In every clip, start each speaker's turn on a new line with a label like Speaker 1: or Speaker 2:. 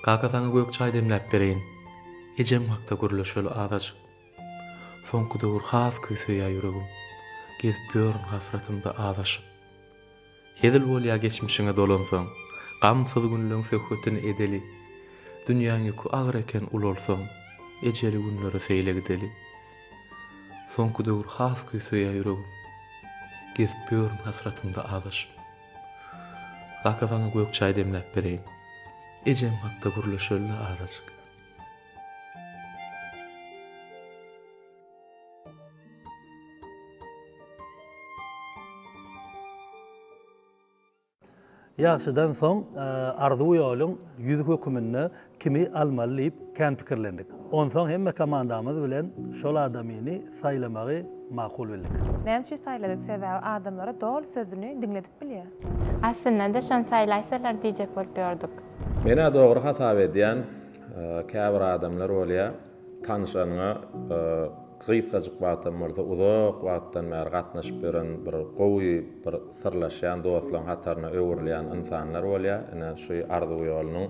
Speaker 1: Kaka saňa gök çaý demläp bereýin. Ejem hakda gürleşeli azajyk. Soňky döwür has köý söýýä ýüregim. Gezip ýörün hasratymda azaşyp. Hezil bolýa geçmişiňe dolansaň. Gamsyz günleň söhbetini edeli. Dünýäň ýüki agyr eken ulalsaň. Ejeli günlere seýle gideli. Soňky döwür has köý söýýä ýüregim. Gezip ýörün hasratymda azaşyp. Kaka saňa gök çaý demläp bereýin. Ejem hakda gürleşeli-le azajyk.
Speaker 2: Ýagşydan soň arzuw ýoluň ýüzi höküminde kimi almaly diýip kän pikirlendik. Onsoň hemme komandamyz bilen şol adamyny saýlamagy makul bildik. Näme üçin saýladyk?
Speaker 3: Sebäbi adamlara doly sözüni diňledip bilýär. Aslynda-da
Speaker 4: şony saýlaýsalar diýjek bolup ýördük. Men-ä dogry
Speaker 5: hasap edýän, käbir adamlar bolýar. Tanyşanyňa gysgajyk wagtam bolsa uzak wagtdan bäri gatnaşyp ýören bir gowy bir syrlaşýan dostlaryň hataryna öwrülýän ynsanlar bolýar. Ine şu Arzuw ýolunyň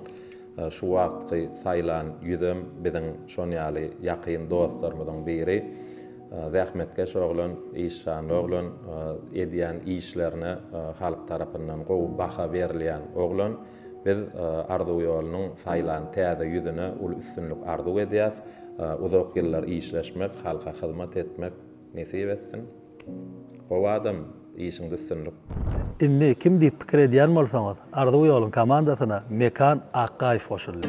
Speaker 5: şu wagtky saýlan ýüzem biziň şon ýaly ýakyn dostlarymyzyň biri. Zähmetkeş oglan, işjanly oglan, edýän işlerine halk tarapyndan gowy baha berilýän oglan. Biz Arzuw ýolunyň saýlan täze ýüzüne uly üstünlik arzuw edýäs. Uzak ýyllar işleşmek, halka hyzmat etmek nesip etsin. Gowy adam, işiňde üstünlik. Indi kim
Speaker 2: diýip pikir edýän bolsaňyz, Arzuw ýoluň komandasyna Mekan Akgaýew goşuldy.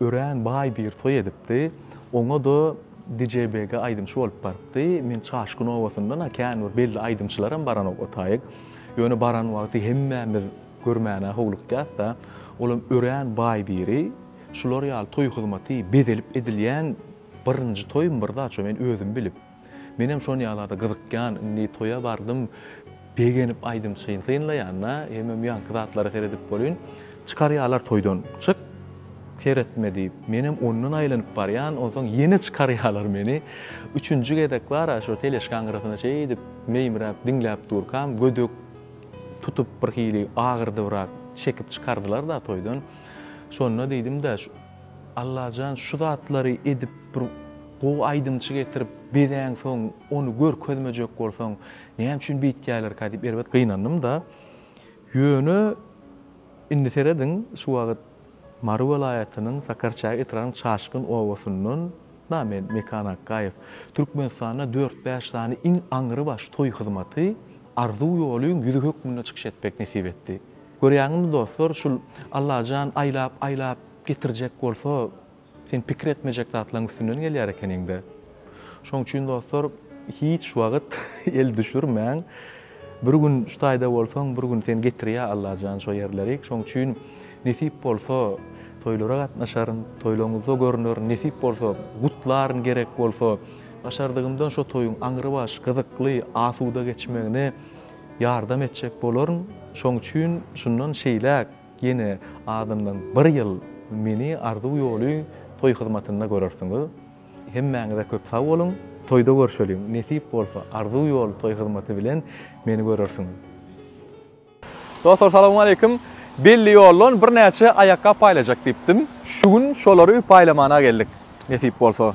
Speaker 1: Örän baý bir toý edipdi. Oňa-da Djbg aýdymçy bolup barypdy. Men Çaşgyn obasyndan-a kän bir belli aýdymçylaram baranok o taýy. Ýöne baran wagty hemmämiz görmäne howlukýas-da. Olam örän baý biri. Şular ýaly toý hyzmaty bezelip edilýän birinji toýumy bir zat şo men özüm bilip. Menem şon ýalarda gyzykýan indi toýa bardym begenip aýdym çyn synlaýanda hemem ýaňky zatlara seredip bolyn çykarýalar toýdan çyk seretme diýip menem ondan aýlanyp barýan onsoň ýene çykarýalar meni üçünji gezek bara şo teleşkaň gyrasyna şeýdip meýmiräp diňläp durkam gödek tutup birhili agyrdybyrak çekip çykardylar da toýdan şonda diýdim-de Allajan şu zatlary edip bir gowy aýdymçy getirip bezäň soň ony görkezmejek bolsaň näme üçin beýtýälerka diýip erbet gynandymda ýöne indi serediň şu wagyt Mary welaýatynyň Sakarçäge etrabynyň Çaşgyn obasyndan da men Mekan Akgaýew Türkmenistanda dört-bäş sany iň aňrybaş toý hyzmaty Arzuw ýoly ýüzi hökmünde çykyş etmek nesip etdi. Görýäňizmi dostlar, şul Allajan aýlap, aýlap getirjek bolsa, sen pikir etmejek zatlaň üstünden gelýär ekeniňdä. Şoň üçin dostlar, hiç wagyt el düşürmäň. Bir gün şu taýda bolsaň, bir gün seni getirýär Allajan şo ýerlerik. Şoň üçin nesip bolsa, toýlara gatnaşaryn, toýlaňyzda görnerin, nesip bolsa, gutlaryn, gerek bolsa, başardygymdan şo toýuň aňrybaş, gyzykly, asuda geçmegini Ýardam etjek bolaryn, şoň üçin şundan şeýläk ýene azyndan bir ýyl meni Arzuw ýoly toý hyzmatynda görersiňiz. Hemmäňize köp sag boluň, toýda görşeliň, nesip bolsa Arzuw ýoly toý hyzmaty bilen meni görersiňiz. Dostlar salowmaleýkim. Belli ýoldan birnäçe aýakgap paýlajak diýipdim. Şu gün şolary paýlamana geldik, nesip bolsa.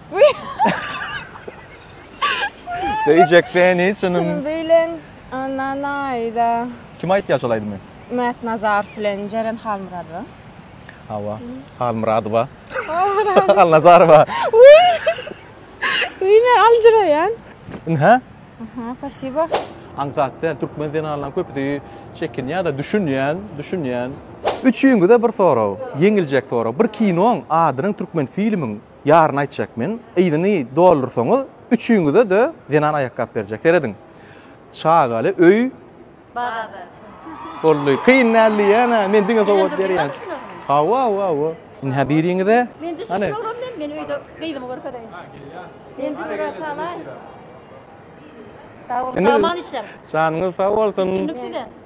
Speaker 1: Söýjek seni çynym bilen
Speaker 3: anan aýda. Kim aýtýar
Speaker 1: şol aýdymy? Mät Nazarow
Speaker 3: bilen Jeren Halmyradowa. Hawa,
Speaker 1: Halmyradowa. Halnazarowa. Wiý,
Speaker 6: men aljyraýan. Ynha.
Speaker 1: Aha,
Speaker 6: pasibo. Aňsat däl,
Speaker 1: türkmen zenanlaryň köpüsi çekinýär-de, düşünýän, düşünýän. Üçüňize bir sorag, ýeňiljek sorag. Bir kinoň adynyň türkmen filmiň Ýaryny aýtjak men. Yzyny doldursaňyz, üçüňize-de zenan aýakgap berjek. Serediň. Çagaly öý. Babadyr.
Speaker 7: Boldy.
Speaker 1: Kyn däl diýýän-ä. Men diňe sowgat berýän. Hawa, hawa, hawa. Indi hä biriňize. Men düşe şurogram men.
Speaker 7: Men öýde gyzymy görkezeýin. Men düşüre salaý. Sag boluň. Aman işler. Janyňyz sag bolsun.
Speaker 1: Üstünlik size.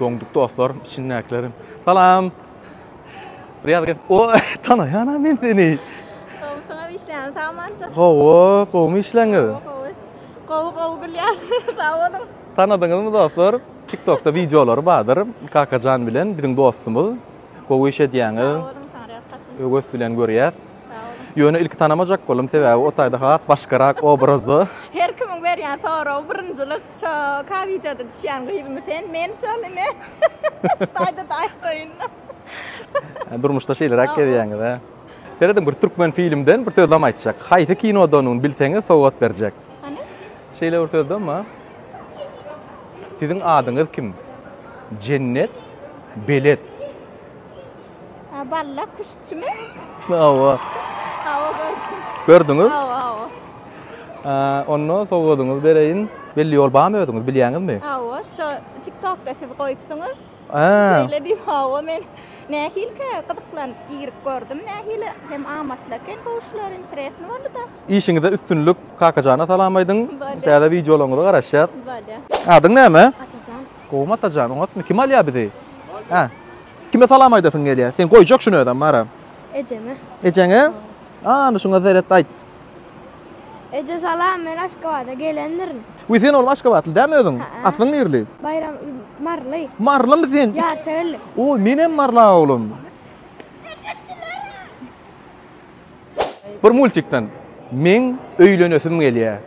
Speaker 1: Doňduk dostlar içindäkilerim. Salam. Riyaz gel. O tanaýan men seni. Gowusyňa
Speaker 6: işleýän samança. Gowy, gowumy
Speaker 1: işleňiz? Gowy. Gowy
Speaker 6: gowy gülýär. Sag boluň. Tanadyňyzmy dostlar?
Speaker 1: TikTokda wideolary bardyr. Kakajan bilen biziň dostumyz. Gowy iş edýäňiz. Sag boluň, saňa rehgatyň. Öwes bilen görýäs. Sag boluň. Ýöne ilki tanamajak boldum sebäbi o taýda has başgarak obrazda. Her kimiň berýän
Speaker 6: soragy birinjilik. Şo ka wideoda düşýän gyzymy sen men şol ine ştaýda daýy toýunda.
Speaker 1: Durmuşda şeýleräk gezýäňiz a. Serediň bir türkmen filmden bir sözlem aýtjak. Haýsy kinodanuny bilseňiz sowgat berjek. Hany?
Speaker 6: Şeýle bir sözlem
Speaker 1: bar. Siziň adyňyz kim? Jennet belet. Ha
Speaker 6: balla kuşçumy? Hawa.
Speaker 1: Hawa
Speaker 6: gördüm. Gördüňiz?
Speaker 1: Hawa
Speaker 6: hawa. Ha onda
Speaker 1: sowgadyňyzy bereýin. Belli ýol barmy özüňiz bilýäňizmi? Hawa şu
Speaker 6: TikTokda siz goýupsyňyz. Ha. Şeýle
Speaker 1: diýip hawa men
Speaker 6: nähilkä gyzyklanyp girip gördüm nähili hem amatly eken gowuşlar interesno bolduda. Işiňizde üstünlik
Speaker 1: Kakajana salam aýdyň. Bolýa. Täze wideolaryňyza garaşýas. Bolýa. Adyň
Speaker 6: näme?
Speaker 1: Atajan. Gowumy
Speaker 6: Atajan
Speaker 1: oňatmy? Kim alýar bizi? Hä. Kime salam aýdasyň gelýär? Sen goýjak şuny özem bara. Ejeme.
Speaker 6: Ejeňe?
Speaker 1: Ana şuňa zeret aýt.
Speaker 6: Eje salam, men Aşgabada gelendirin. Wi sen oglum Aşgabatly
Speaker 1: dämi özüň? Aslyň nirli? Baýram
Speaker 6: Marly. Marlymy sen?
Speaker 1: Ýaşa geldim. Oý,
Speaker 6: menem Marly
Speaker 1: oglum. Bir multikden meň öýlenesim gelýä.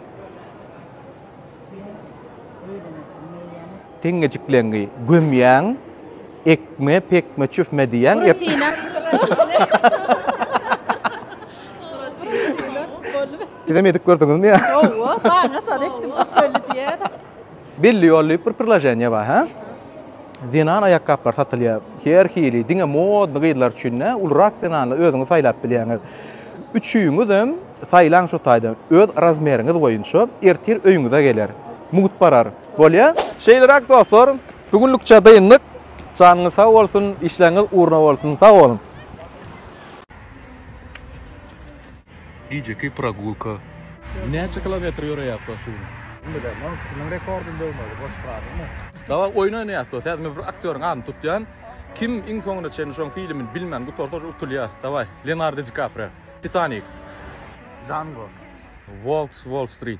Speaker 1: Teňňejikleňňi gömýäň, ekme, pekme, çüfme diýýäň. Siz hem edip gördüňizmi? Ýok, ýok, maňa şony
Speaker 6: etdim, köpelli diýýän. Belli ýol
Speaker 1: diýip bir priloženiýa bar hä. Zenan aýakgaplary satylýar. Her hili, diňe modny gyzlar üçin dä, ulurak zenanlar özüňiz saýlap bilýäňiz. Üçüňizem saýlaň şo taýdan, öz razmeriňiz boýunça ertir öýüňize geler. Mugt barar. Bolýa? Şeýleräk dostlar, bu günlükçe dyndyk. Janyňyz sag bolsun, işleriňiz ugruna bolsun. Sag boluň! Gijeki pragulka. Näçe kilometr ýöreýäpdir şu gün? Bilmedem, ol kimiň
Speaker 8: rekordyny döwmeli, boş frazymy? Dawa oýun oýnaýas
Speaker 1: dos häzir men bir aktýoryň adyny tutýan kim iň soňuna çenli şoň filimini bilmän gutarsa şo utulýa dawaý Leonardo Di Kaprio Titanik. Django.
Speaker 8: Wolf
Speaker 1: s Wall Street.